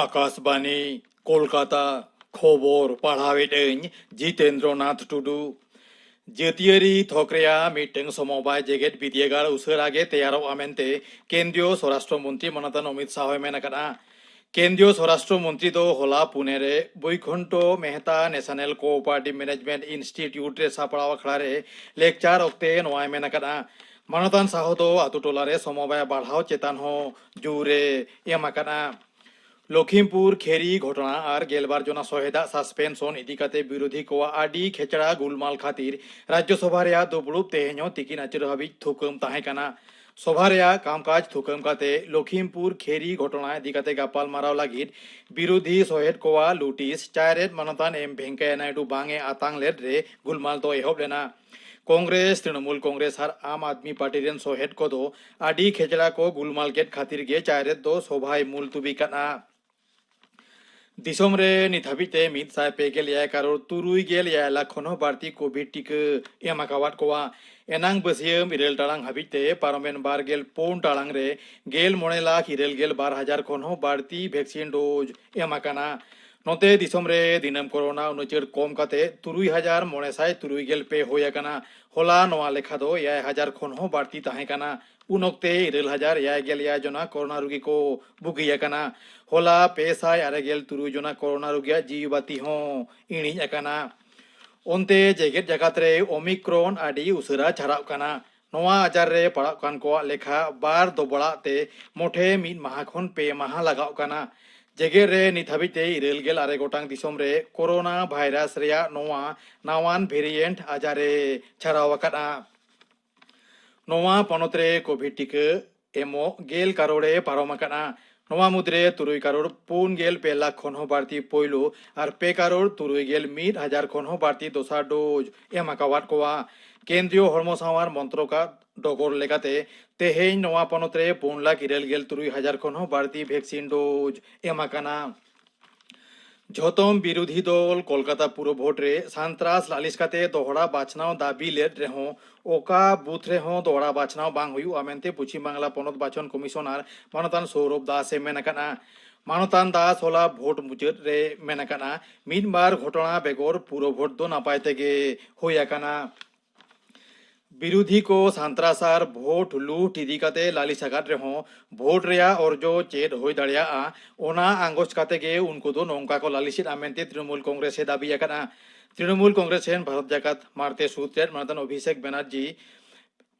ᱟᱠᱟᱥᱵᱟᱱᱤ ᱠᱳᱞᱠᱟᱛᱟ ᱠᱷᱚᱵᱚᱨ ᱯᱟᱲᱦᱟᱣᱮᱫ ᱟᱹᱧ ᱡᱤᱛᱮᱱᱫᱨᱚ ᱱᱟᱛᱷ ᱴᱩᱰᱩ ᱡᱟᱹᱛᱤᱭᱟᱹᱨᱤ ᱛᱷᱚᱠ ᱨᱮᱭᱟᱜ ᱢᱤᱫᱴᱟᱝ ᱥᱚᱢᱚᱵᱟᱭ ᱡᱮᱜᱮᱛ ᱵᱤᱫᱽᱭᱟᱹᱜᱟᱲ ᱩᱥᱟᱹᱨᱟ ᱜᱮ ᱛᱮᱭᱟᱨᱚᱜᱼᱟ ᱢᱮᱱᱛᱮ ᱠᱮᱱᱫᱨᱤᱭᱚ ᱥᱚᱨᱟᱥᱴᱨᱚ ᱢᱚᱱᱛᱨᱤ ᱢᱟᱱᱚᱛᱟᱱ ᱚᱢᱤᱛ ᱥᱟᱦᱚᱭ ᱢᱮᱱ ᱟᱠᱟᱫᱼᱟ ᱠᱮᱱᱫᱨᱤᱭᱚ ᱥᱚᱨᱟᱥᱴᱨᱚ ᱢᱚᱱᱛᱨᱤ ᱫᱚ ᱦᱚᱞᱟ ᱯᱩᱱᱮ ᱨᱮ Vaikunth Mehta national cooperative management institute ᱨᱮ ᱥᱟᱯᱲᱟᱣ ᱟᱠᱷᱲᱟ ᱨᱮ ᱞᱮᱠᱪᱟᱨ ᱚᱠᱛᱮ ᱱᱚᱣᱟᱭ ᱢᱮᱱ ᱟᱠᱟᱫᱼᱟ ᱢᱟᱱᱚᱛᱟᱱ ᱥᱟᱦᱚ ᱫᱚ ᱟᱛᱳ ᱴᱚᱞᱟ ᱨᱮ ᱥᱚᱢᱚᱵᱟᱭ ᱵᱟᱲᱦᱟᱣ ᱪᱮᱛᱟᱱ ᱦᱚᱸ ᱡᱳᱨ ᱮ ᱮᱢ ᱟᱠᱟᱫᱼᱟ ᱞᱚᱠᱷᱤᱢᱯᱩᱨ ᱠᱷᱮᱨᱤ ᱜᱷᱚᱴᱚᱱᱟ ᱟᱨ ᱜᱮᱞᱵᱟᱨ ᱡᱚᱱᱟ ᱥᱚᱦᱮᱫᱟᱜ ᱥᱟᱥᱯᱮᱱᱥᱚᱱ ᱤᱫᱤ ᱠᱟᱛᱮ ᱵᱤᱨᱳᱫᱷᱤ ᱠᱚᱣᱟᱜ ᱟᱹᱰᱤ ᱠᱷᱮᱪᱲᱟ ᱜᱩᱞᱢᱟᱞ ᱠᱷᱟᱹᱛᱤᱨ ᱨᱟᱡᱽᱭᱚᱥᱚᱵᱷᱟ ᱨᱮᱭᱟᱜ ᱫᱩᱯᱲᱩᱵ ᱛᱮᱦᱮᱧ ᱦᱚᱸ ᱛᱤᱠᱤᱱ ᱟᱹᱪᱩᱨ ᱦᱟᱹᱵᱤᱡ ᱛᱷᱩᱠᱟᱹᱢ ᱛᱟᱦᱮᱸ ᱠᱟᱱᱟ ᱥᱚᱵᱷᱟ ᱨᱮᱭᱟᱜ ᱠᱟᱢᱠᱟᱡᱽ ᱛᱷᱩᱠᱟᱹᱢ ᱠᱟᱛᱮ ᱞᱚᱠᱷᱤᱢᱯᱩᱨ ᱠᱷᱮᱨᱤ ᱜᱷᱚᱴᱚᱱᱟ ᱤᱫᱤ ᱠᱟᱛᱮ ᱜᱟᱯᱟᱞᱢᱟᱨᱟᱣ ᱞᱟᱹᱜᱤᱫ ᱵᱤᱨᱩᱫᱷᱤ ᱥᱚᱦᱮᱫ ᱠᱚᱣᱟᱜ ᱞᱩᱴᱤᱥ ᱪᱟᱭᱨᱮᱛ ᱢᱟᱱᱚᱛᱟᱱ ᱮᱢ ᱵᱷᱮᱝᱠᱟᱭᱟ ᱱᱟᱭᱰᱩ ᱵᱟᱝ ᱮ ᱟᱛᱟᱝ ᱞᱮᱫ ᱨᱮ ᱜᱩᱞᱢᱟᱞ ᱫᱚ ᱮᱦᱚᱵ ᱞᱮᱱᱟ ᱠᱚᱝᱜᱨᱮᱥ ᱛᱨᱤᱱᱚᱢᱩᱞ ᱠᱚᱝᱜᱨᱮᱥ ᱟᱨ ᱟᱢ ᱟᱫᱢᱤ ᱯᱟᱨᱴᱤ ᱨᱮᱱ ᱥᱚᱦᱮᱫ ᱠᱚᱫᱚ ᱟᱹᱰᱤ ᱠᱷᱮᱪᱲᱟ ᱠᱚ ᱜᱩᱞᱢᱟᱞ ᱠᱮᱫ ᱠᱷᱟᱹᱛᱤᱨ ᱜᱮ ᱪᱟᱭᱨᱮᱛ ᱫᱚ ᱥᱚᱵᱷᱟᱭ ᱢᱩᱞᱛᱩᱵᱤ ᱠᱟᱫᱼᱟ ᱫᱤᱥᱚᱢ ᱨᱮ ᱱᱤᱛ ᱦᱟᱹᱵᱤᱡ ᱛᱮ ᱢᱤᱫ ᱥᱟᱭ ᱯᱮ ᱜᱮᱞ ᱮᱭᱟᱭ ᱠᱟᱨᱳᱲ ᱛᱩᱨᱩᱭ ᱜᱮᱞ ᱮᱭᱟᱭ ᱞᱟᱠᱷ ᱠᱷᱚᱱ ᱦᱚᱸ ᱵᱟᱹᱲᱛᱤ ᱠᱳᱵᱷᱤᱰ ᱴᱤᱠᱟᱹ ᱮᱢ ᱟᱠᱟᱣᱟᱫ ᱠᱚᱣᱟ ᱮᱱᱟᱝ ᱵᱟᱹᱥᱭᱟᱹᱢ ᱤᱨᱟᱹᱞ ᱴᱟᱲᱟᱝ ᱦᱟᱹᱵᱤᱡ ᱛᱮ ᱯᱟᱨᱚᱢᱮᱱ ᱵᱟᱨ ᱜᱮᱞ ᱯᱩᱱ ᱴᱟᱲᱟᱝ ᱨᱮ ᱜᱮᱞ ᱢᱚᱬᱮ ᱞᱟᱠᱷ ᱤᱨᱟᱹᱞ ᱜᱮᱞ ᱵᱟᱨ ᱦᱟᱡᱟᱨ ᱠᱷᱚᱱ ᱦᱚᱸ ᱵᱟᱹᱲᱛᱤ ᱵᱷᱮᱠᱥᱤᱱ ᱰᱳᱡᱽ ᱮᱢ ᱟᱠᱟᱱᱟ ᱱᱚᱛᱮ ᱫᱤᱥᱚᱢ ᱨᱮ ᱫᱤᱱᱟᱹᱢ ᱠᱚᱨᱳᱱᱟ ᱩᱱᱩᱪᱟᱹᱲ ᱠᱚᱢ ᱠᱟᱛᱮ ᱛᱩᱨᱩᱭ ᱦᱟᱡᱟᱨ ᱢᱚᱬᱮ ᱥᱟᱭ ᱛᱩᱨᱩᱭ ᱜᱮᱞ ᱯᱮ ᱦᱩᱭ ᱟᱠᱟᱱᱟ ᱦᱚᱞᱟ ᱱᱚᱣᱟ ᱞᱮᱠᱷᱟ ᱫᱚ ᱮᱭᱟᱭ ᱦᱟᱡᱟᱨ ᱠᱷᱚᱱ ᱦᱚᱸ ᱵᱟᱹᱲᱛᱤ ᱛᱟᱦᱮᱸ ᱠᱟᱱᱟ ᱩᱱ ᱚᱠᱛᱮ ᱤᱨᱟᱹᱞ ᱦᱟᱡᱟᱨ ᱮᱭᱟᱭ ᱜᱮᱞ ᱮᱭᱟᱭ ᱡᱚᱱᱟ ᱠᱚᱨᱳᱱᱟ ᱨᱩᱜᱤ ᱠᱚ ᱵᱩᱜᱤ ᱟᱠᱟᱱᱟ ᱦᱚᱞᱟ ᱯᱮ ᱥᱟᱭ ᱟᱨᱮ ᱜᱮᱞ ᱛᱩᱨᱩᱭ ᱡᱚᱱᱟ ᱠᱚᱨᱳᱱᱟ ᱨᱩᱜᱤᱭᱟᱜ ᱡᱤᱣᱤ ᱵᱟᱹᱛᱤ ᱦᱚᱸ ᱤᱬᱤᱡ ᱟᱠᱟᱱᱟ ᱚᱱᱛᱮ ᱡᱮᱜᱮᱛ ᱡᱟᱠᱟᱛ ᱨᱮ ᱚᱢᱤᱠᱨᱚᱱ ᱟᱹᱰᱤ ᱩᱥᱟᱹᱨᱟ ᱪᱷᱟᱨᱟᱜ ᱠᱟᱱᱟ ᱱᱚᱣᱟ ᱟᱡᱟᱨ ᱨᱮ ᱯᱟᱲᱟᱜ ᱠᱟᱱ ᱠᱚᱣᱟᱜ ᱞᱮᱠᱷᱟ ᱵᱟᱨ ᱫᱚᱵᱚᱲᱟᱜ ᱛᱮ ᱢᱚᱴᱷᱮ ᱢᱤᱫ ᱢᱟᱦᱟ ᱠᱷᱚᱱ ᱯᱮ ᱢᱟᱦᱟ ᱞᱟᱜᱟᱜ ᱠᱟᱱᱟ ᱡᱮᱜᱮᱛ ᱨᱮ ᱱᱤᱛ ᱦᱟᱹᱵᱤᱡ ᱛᱮ ᱤᱨᱟᱹᱞ ᱜᱮᱞ ᱟᱨᱮ ᱜᱚᱴᱟᱝ ᱫᱤᱥᱚᱢ ᱨᱮ ᱠᱚᱨᱳᱱᱟ ᱵᱷᱟᱭᱨᱟᱥ ᱨᱮᱭᱟᱜ ᱱᱚᱣᱟ ᱱᱟᱣᱟᱱ ᱵᱷᱮᱨᱤᱭᱮᱱᱴ ᱟᱡᱟᱨ ᱮ ᱪᱷᱟᱨᱟᱣ ᱟᱠᱟᱫᱼᱟ ᱱᱚᱣᱟ ᱯᱚᱱᱚᱛ ᱨᱮ ᱠᱳᱵᱷᱤᱰ ᱴᱤᱠᱟᱹ ᱮᱢᱚᱜ ᱜᱮᱞ ᱠᱟᱨᱚᱲ ᱮ ᱯᱟᱨᱚᱢ ᱟᱠᱟᱱᱟ ᱱᱚᱣᱟ ᱢᱩᱫᱽᱨᱮ ᱛᱩᱨᱩᱭ ᱠᱟᱨᱚᱲ ᱯᱩᱱ ᱜᱮᱞ ᱯᱮ ᱞᱟᱠᱷ ᱠᱷᱚᱱ ᱦᱚᱸ ᱵᱟᱹᱲᱛᱤ ᱯᱳᱭᱞᱳ ᱟᱨ ᱯᱮ ᱠᱟᱨᱚᱲ ᱛᱩᱨᱩᱭ ᱜᱮᱞ ᱢᱤᱫ ᱦᱟᱡᱟᱨ ᱠᱷᱚᱱ ᱦᱚᱸ ᱵᱟᱹᱲᱛᱤ ᱫᱚᱥᱟᱨ ᱰᱳᱡᱽ ᱮᱢ ᱟᱠᱟᱣᱟᱫ ᱠᱚᱣᱟ ᱠᱮᱱᱫᱨᱤᱭᱚ ᱦᱚᱲᱢᱚ ᱥᱟᱶᱟᱨ ᱢᱚᱱᱛᱨᱚᱠᱟᱜ ᱰᱚᱜᱚᱨ ᱞᱮᱠᱟᱛᱮ ᱛᱮᱦᱮᱧ ᱱᱚᱣᱟ ᱯᱚᱱᱚᱛ ᱨᱮ ᱯᱩᱱ ᱞᱟᱠᱷ ᱤᱨᱟᱹᱞ ᱜᱮᱞ ᱛᱩᱨᱩᱭ ᱦᱟᱡᱟᱨ ᱠᱷᱚᱱ ᱦᱚᱸ ᱵᱟᱹᱲᱛᱤ ᱵᱷᱮᱠᱥᱤᱱ ᱰᱳᱡᱽ ᱮᱢ ᱟᱠᱟᱱᱟ ᱡᱷᱚᱛᱚᱢ ᱵᱤᱨᱩᱫᱷᱤ ᱫᱚᱞ ᱠᱚᱞᱠᱟᱛᱟ ᱯᱩᱨᱚ ᱵᱷᱳᱴ ᱨᱮ ᱥᱟᱱᱛᱨᱟᱥ ᱞᱟᱹᱞᱤᱥ ᱠᱟᱛᱮ ᱫᱚᱦᱲᱟ ᱵᱟᱪᱷᱱᱟᱣ ᱫᱟᱹᱵᱤ ᱞᱮᱫ ᱨᱮᱦᱚᱸ ᱚᱠᱟ ᱵᱩᱛᱷ ᱨᱮᱦᱚᱸ ᱫᱚᱦᱲᱟ ᱵᱟᱪᱷᱱᱟᱣ ᱵᱟᱝ ᱦᱩᱭᱩᱜᱼᱟ ᱢᱮᱱᱛᱮ ᱯᱚᱪᱷᱤᱢ ᱵᱟᱝᱞᱟ ᱯᱚᱱᱚᱛ ᱵᱟᱪᱷᱚᱱ ᱠᱚᱢᱤᱥᱚᱱᱟᱨ ᱢᱟᱱᱚᱛᱟᱱ ᱥᱳᱣᱨᱚᱵᱷ ᱫᱟᱥ ᱮ ᱢᱮᱱ ᱟᱠᱟᱫᱼᱟ ᱢᱟᱱᱚᱛᱟᱱ ᱫᱟᱥ ᱦᱚᱞᱟ ᱵᱷᱳᱴ ᱢᱩᱪᱟᱹᱫ ᱨᱮ ᱢᱮᱱ ᱟᱠᱟᱫᱼᱟ ᱢᱤᱫ ᱵᱟᱨ ᱜᱷᱚᱴᱚᱱᱟ ᱵᱮᱜᱚᱨ ᱯᱩᱨᱚ ᱵᱷᱳᱴ ᱫᱚ ᱱᱟᱯᱟᱭ ᱛᱮᱜᱮ ᱦᱩᱭ ᱟᱠᱟᱱᱟ ᱵᱤᱨᱩᱫᱷᱤ ᱠᱚ ᱥᱟᱱᱛᱨᱟᱥ ᱟᱨ ᱵᱷᱳᱴ ᱞᱩᱴ ᱤᱫᱤ ᱠᱟᱛᱮ ᱞᱟᱹᱞᱤᱥ ᱟᱠᱟᱫ ᱨᱮᱦᱚᱸ ᱵᱷᱳᱴ ᱨᱮᱭᱟᱜ ᱚᱨᱡᱚ ᱪᱮᱫ ᱦᱩᱭ ᱫᱟᱲᱮᱭᱟᱜᱼᱟ ᱚᱱᱟ ᱟᱸᱜᱚᱪ ᱠᱟᱛᱮ ᱜᱮ ᱩᱱᱠᱩ ᱫᱚ ᱱᱚᱝᱠᱟ ᱠᱚ ᱞᱟᱹᱞᱤᱥᱮᱫᱼᱟ ᱢᱮᱱᱛᱮ ᱛᱨᱤᱱᱚᱢᱩᱞ ᱠᱚᱝᱜᱨᱮᱥ ᱮ ᱫᱟᱹᱵᱤ ᱟᱠᱟᱫᱼᱟ ᱛᱨᱤᱱᱚᱢᱩᱞ ᱠᱚᱝᱜᱨᱮᱥ ᱨᱮᱱ ᱵᱷᱟᱨᱚᱛ ᱡᱟᱠᱟᱛ ᱢᱟᱬᱛᱮ ᱥᱩᱫᱽ ᱨᱮᱱ ᱢᱟᱱᱚᱛᱟᱱ ᱚᱵᱷᱤᱥᱮᱠ ᱵᱮᱱᱟᱨᱡᱤ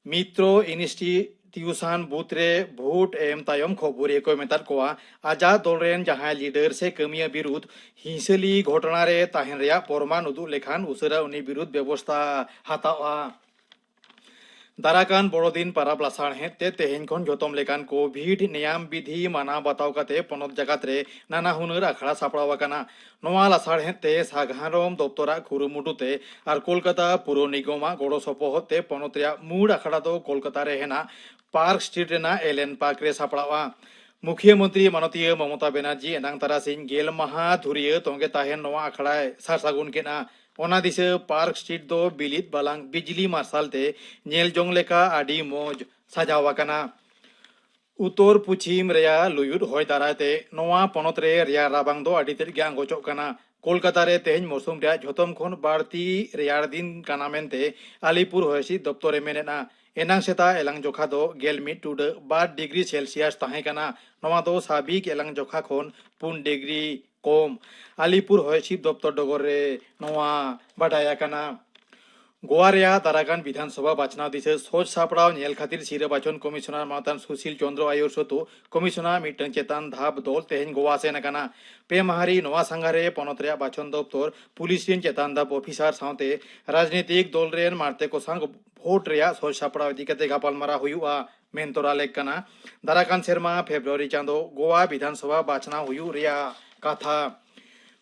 ᱢᱤᱛᱨᱚ ᱤᱱᱤᱥᱴᱤ ᱛᱤᱭᱩᱥᱟᱱ ᱵᱩᱛ ᱨᱮ ᱵᱷᱳᱴ ᱮᱢ ᱛᱟᱭᱚᱢ ᱠᱷᱚᱵᱚᱨᱤᱭᱟᱹ ᱠᱚ ᱢᱮᱛᱟᱫ ᱠᱚᱣᱟ ᱟᱡᱟᱜ ᱫᱚᱞ ᱨᱮᱱ ᱡᱟᱦᱟᱸᱭ ᱞᱤᱰᱟᱨ ᱥᱮ ᱠᱟᱹᱢᱤᱭᱟᱹ ᱵᱤᱨᱩᱫᱷ ᱦᱤᱸᱥᱟᱹᱞᱤ ᱜᱷᱚᱴᱚᱱᱟ ᱨᱮ ᱛᱟᱦᱮᱱ ᱨᱮᱭᱟᱜ ᱯᱚᱨᱢᱟᱱ ᱩᱫᱩᱜ ᱞᱮᱠᱷᱟᱱ ᱩᱥᱟᱹᱨᱟ ᱩᱱᱤ ᱵᱤᱨᱩᱫᱷ ᱵᱮᱵᱚᱥᱛᱟ ᱦᱟᱛᱟᱣᱜᱼᱟ ᱫᱟᱨᱟᱠᱟᱱ ᱵᱚᱲᱚᱫᱤᱱ ᱯᱟᱨᱟᱵᱽ ᱞᱟᱥᱟᱲᱦᱮᱫ ᱛᱮ ᱛᱮᱦᱮᱧ ᱠᱷᱚᱱ ᱡᱚᱛᱚᱢ ᱞᱮᱠᱟᱱ ᱠᱳᱵᱷᱤᱰ ᱱᱮᱭᱟᱢ ᱵᱤᱫᱷᱤ ᱢᱟᱱᱟᱣ ᱵᱟᱛᱟᱣ ᱠᱟᱛᱮ ᱯᱚᱱᱚᱛ ᱡᱟᱠᱟᱛ ᱨᱮ ᱱᱟᱱᱟ ᱦᱩᱱᱟᱹᱨ ᱟᱠᱷᱲᱟ ᱥᱟᱯᱲᱟᱣ ᱟᱠᱟᱱᱟ ᱱᱚᱣᱟ ᱞᱟᱥᱟᱲᱦᱮᱫ ᱛᱮ ᱥᱟᱜᱷᱟᱨᱚᱢ ᱫᱚᱯᱛᱚᱨᱟᱜ ᱠᱩᱨᱩᱢᱩᱴᱩ ᱛᱮ ᱟᱨ ᱠᱳᱞᱠᱟᱛᱟ ᱯᱩᱨᱚ ᱱᱤᱜᱚᱢᱟᱜ ᱜᱚᱲᱚ ᱥᱚᱯᱚᱦᱚᱫ ᱛᱮ ᱯᱚᱱᱚᱛ ᱨᱮᱭᱟᱜ ᱢᱩᱬ ᱟᱠᱷᱲᱟ ᱫᱚ ᱠᱳᱞᱠᱟᱛᱟ ᱨᱮ ᱦᱮᱱᱟᱜ ᱯᱟᱨᱠ ᱥᱴᱨᱤᱴ ᱨᱮᱱᱟᱜ ᱮᱞᱮᱱ ᱯᱟᱨᱠ ᱨᱮ ᱥᱟᱯᱲᱟᱣᱜᱼᱟ ᱢᱩᱠᱷᱤᱭᱟᱹ ᱢᱚᱱᱛᱨᱤ ᱢᱟᱱᱚᱛᱤᱭᱟᱹ ᱢᱚᱢᱚᱛᱟ ᱵᱮᱱᱟᱨᱡᱤ ᱮᱱᱟᱝ ᱛᱟᱨᱟᱥᱤᱧ ᱜᱮᱞ ᱢᱟᱦᱟ ᱫᱷᱩᱨᱤᱭᱟᱹ ᱛᱚᱸᱜᱮ ᱛᱟᱦᱮᱱ ᱱᱚᱣᱟ ᱟᱠᱷᱲᱟᱭ ᱥᱟᱨ ᱥᱟᱹᱜᱩᱱ ᱠᱮᱫᱼᱟ ᱚᱱᱟ ᱫᱤᱥᱟᱹ ᱯᱟᱨᱠ ᱥᱴᱨᱤᱴ ᱫᱚ ᱵᱤᱞᱤᱫ ᱵᱟᱞᱟᱝ ᱵᱤᱡᱽᱞᱤ ᱢᱟᱨᱥᱟᱞ ᱛᱮ ᱧᱮᱞ ᱡᱚᱝ ᱞᱮᱠᱟ ᱟᱹᱰᱤ ᱢᱚᱡᱽ ᱥᱟᱡᱟᱣ ᱟᱠᱟᱱᱟ ᱩᱛᱚᱨ ᱯᱩᱪᱷᱤᱢ ᱨᱮᱭᱟᱜ ᱞᱩᱭᱩᱫ ᱦᱚᱭ ᱫᱟᱨᱟᱭ ᱛᱮ ᱱᱚᱣᱟ ᱯᱚᱱᱚᱛ ᱨᱮ ᱨᱮᱭᱟᱲ ᱨᱟᱵᱟᱝ ᱫᱚ ᱟᱹᱰᱤ ᱛᱮᱫ ᱜᱮ ᱟᱸᱜᱚᱪᱚᱜ ᱠᱟᱱᱟ᱾ ᱠᱚᱞᱠᱟᱛᱟ ᱨᱮ ᱛᱮᱦᱮᱧ ᱢᱚᱣᱥᱩᱢ ᱨᱮᱭᱟᱜ ᱡᱷᱚᱛᱚᱢ ᱠᱷᱚᱱ ᱵᱟᱹᱲᱛᱤ ᱨᱮᱭᱟᱲ ᱫᱤᱱ ᱠᱟᱱᱟ ᱢᱮᱱᱛᱮ ᱟᱞᱤᱯᱩᱨ ᱦᱚᱭᱦᱤᱥᱤᱫ ᱫᱚᱯᱛᱚᱨ ᱮ ᱢᱮᱱ ᱮᱫᱼᱟ᱾ ᱮᱱᱟᱝ ᱥᱮᱛᱟᱜ ᱮᱞᱟᱝ ᱡᱚᱠᱷᱟ ᱫᱚ ᱜᱮᱞ ᱢᱤᱫ ᱴᱩᱰᱟᱹᱜ ᱵᱟᱨ ᱰᱤᱜᱽᱨᱤ ᱥᱮᱞᱥᱤᱭᱟᱥ ᱛᱟᱦᱮᱸ ᱠᱟᱱᱟ᱾ ᱱᱚᱣᱟ ᱫᱚ ᱥᱟᱵᱷᱤᱠ ᱮᱞᱟᱝ ᱡᱚᱠᱷᱟ ᱠᱷᱚᱱ ᱯᱩᱱ ᱰᱤᱜᱽᱨᱤ ᱠᱚᱢ ᱟᱞᱤᱯᱩᱨ ᱦᱚᱭ ᱦᱤᱥᱤᱫ ᱫᱚᱯᱛᱚᱨ ᱰᱚᱜᱚᱨ ᱨᱮ ᱱᱚᱣᱟ ᱵᱟᱰᱟᱭ ᱟᱠᱟᱱᱟ ᱜᱳᱣᱟ ᱨᱮᱭᱟᱜ ᱫᱟᱨᱟᱜᱟᱱ ᱵᱤᱫᱷᱟᱱ ᱥᱚᱵᱷᱟ ᱵᱟᱪᱷᱱᱟᱣ ᱫᱤᱥᱟᱹ ᱥᱚᱡᱽ ᱥᱟᱯᱲᱟᱣ ᱧᱮᱞ ᱠᱷᱟᱹᱛᱤᱨ ᱥᱤᱨᱟᱹ ᱵᱟᱪᱷᱚᱱ ᱠᱚᱢᱤᱥᱚᱱᱟᱨ ᱢᱟᱛᱟᱱ ᱥᱩᱥᱤᱞ ᱪᱚᱱᱫᱨᱚ ᱟᱭᱩᱨ ᱥᱚᱛᱩ ᱠᱚᱢᱤᱥᱚᱱᱟᱨ ᱢᱤᱫᱴᱟᱝ ᱪᱮᱛᱟᱱ ᱫᱷᱟᱯ ᱫᱚᱞ ᱛᱮᱦᱮᱧ ᱜᱳᱣᱟ ᱥᱮᱱ ᱟᱠᱟᱱᱟ ᱯᱮ ᱢᱟᱦᱟ ᱨᱮ ᱱᱚᱣᱟ ᱥᱟᱸᱜᱷᱟᱨ ᱨᱮ ᱯᱚᱱᱚᱛ ᱨᱮᱭᱟᱜ ᱵᱟᱪᱷᱚᱱ ᱫᱚᱯᱛᱚᱨ ᱯᱩᱞᱤᱥ ᱨᱮᱱ ᱪᱮᱛᱟᱱ ᱫᱷᱟᱯ ᱚᱯᱷᱤᱥᱟᱨ ᱥᱟᱶᱛᱮ ᱨᱟᱡᱽᱱᱤᱛᱤᱠ ᱫᱚᱞ ᱨᱮᱱ ᱢᱟᱬᱛᱮ ᱠᱚ ᱥᱟᱶ ᱵᱷᱳᱴ ᱨᱮᱭᱟᱜ ᱥᱚᱡᱽ ᱥᱟᱯᱲᱟᱣ ᱤᱫᱤ ᱠᱟᱛᱮ ᱜᱟᱯᱟᱞᱢᱟᱨᱟᱣ ᱦᱩᱭᱩᱜᱼᱟ ᱢᱮᱱ ᱛᱚᱨᱟ ᱞᱮᱠ ᱠᱟᱱᱟ ᱫᱟᱨᱟ ᱠᱟᱱ ᱥᱮᱨᱢᱟ ᱯᱷᱮᱵᱨᱩᱣᱟᱨᱤ ᱪᱟᱸᱫᱚ ᱜᱳᱣᱟ ᱵᱤᱫᱷᱟᱱ ᱥᱚᱵᱷᱟ ᱵᱟᱪᱷᱱᱟᱣ ᱦᱩᱭᱩᱜ ᱨᱮᱭᱟᱜ ᱠᱟᱛᱷᱟ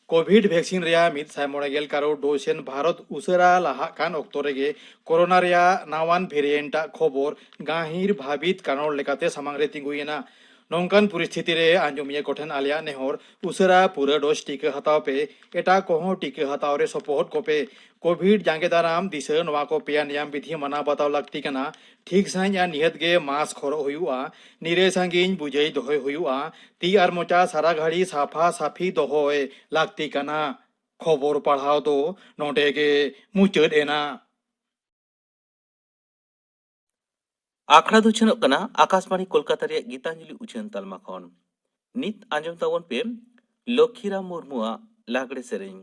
ᱠᱳᱵᱷᱤᱰ ᱵᱷᱮᱠᱥᱤᱱ ᱨᱮᱭᱟᱜ ᱢᱤᱫ ᱥᱟᱭ ᱢᱚᱬᱮ ᱜᱮᱞ ᱠᱟᱨᱳᱲ ᱰᱳᱡᱽ ᱥᱮᱱ ᱵᱷᱟᱨᱚᱛ ᱩᱥᱟᱹᱨᱟ ᱞᱟᱦᱟᱜ ᱠᱟᱱ ᱚᱠᱛᱚ ᱨᱮᱜᱮ ᱠᱳᱨᱳᱱᱟ ᱨᱮᱭᱟᱜ ᱱᱟᱣᱟᱱ ᱵᱷᱮᱨᱤᱭᱮᱱᱴ ᱟᱜ ᱠᱷᱚᱵᱚᱨ ᱜᱟᱹᱦᱤᱨ ᱵᱷᱟᱹᱵᱤᱛ ᱠᱟᱨᱚᱲ ᱞᱮᱠᱟᱛᱮ ᱥᱟᱢᱟᱝ ᱨᱮ ᱛᱤᱸᱜᱩᱭᱮᱱᱟ ᱱᱚᱝᱠᱟᱱ ᱯᱚᱨᱤᱥᱛᱷᱤᱛᱤ ᱨᱮ ᱟᱸᱡᱚᱢᱤᱭᱟᱹ ᱠᱚᱴᱷᱮᱱ ᱟᱞᱮᱭᱟᱜ ᱱᱮᱦᱚᱨ ᱩᱥᱟᱹᱨᱟ ᱯᱩᱨᱟᱹ ᱰᱳᱡᱽ ᱴᱤᱠᱟᱹ ᱦᱟᱛᱟᱣ ᱯᱮ ᱮᱴᱟᱜ ᱠᱚᱦᱚᱸ ᱴᱤᱠᱟᱹ ᱦᱟᱛᱟᱣ ᱨᱮ ᱥᱚᱯᱚᱦᱚᱫ ᱠᱚᱯᱮ ᱠᱳᱵᱷᱤᱰ ᱡᱟᱸᱜᱮ ᱫᱟᱨᱟᱢ ᱫᱤᱥᱟᱹ ᱱᱚᱣᱟ ᱠᱚ ᱯᱮᱭᱟ ᱱᱮᱭᱟᱢ ᱵᱤᱫᱷᱤ ᱢᱟᱱᱟᱣ ᱵᱟᱛᱟᱣ ᱞᱟᱹᱠᱛᱤ ᱠᱟᱱᱟ ᱴᱷᱤᱠ ᱥᱟᱺᱦᱤᱡ ᱟᱨ ᱱᱤᱦᱟᱹᱛ ᱜᱮ ᱢᱟᱥᱠ ᱦᱚᱨᱚᱜ ᱦᱩᱭᱩᱜᱼᱟ ᱱᱤᱨᱟᱹᱭ ᱥᱟᱺᱜᱤᱧ ᱵᱩᱡᱟᱹᱭ ᱫᱚᱦᱚᱭ ᱦᱩᱭᱩᱜᱼᱟ ᱛᱤ ᱟᱨ ᱢᱚᱪᱟ ᱥᱟᱨᱟ ᱜᱷᱟᱹᱲᱤ ᱥᱟᱯᱷᱟ ᱥᱟᱹᱯᱷᱤ ᱫᱚᱦᱚᱭ ᱞᱟᱹᱠᱛᱤ ᱠᱟᱱᱟ ᱠᱷᱚᱵᱚᱨ ᱯᱟᱲᱦᱟᱣ ᱫᱚ ᱱᱚᱰᱮ ᱜᱮ ᱢᱩᱪᱟᱹᱫ ᱮᱱᱟ ᱟᱠᱷᱲᱟ ᱫᱚ ᱪᱷᱟᱹᱱᱚᱜ ᱠᱟᱱᱟ ᱟᱠᱟᱥᱵᱟᱬᱤ ᱠᱳᱞᱠᱟᱛᱟ ᱨᱮᱭᱟᱜ ᱜᱤᱛᱟᱧᱡᱚᱞᱤ ᱩᱪᱷᱟᱹᱱ ᱛᱟᱞᱢᱟ ᱠᱷᱚᱱ ᱱᱤᱛ ᱟᱸᱡᱚᱢ ᱛᱟᱵᱚᱱ ᱯᱮ ᱞᱚᱠᱠᱷᱤᱨᱟᱢ ᱢᱩᱨᱢᱩᱣᱟᱜ ᱞᱟᱜᱽᱲᱮ ᱥᱮᱨᱮᱧ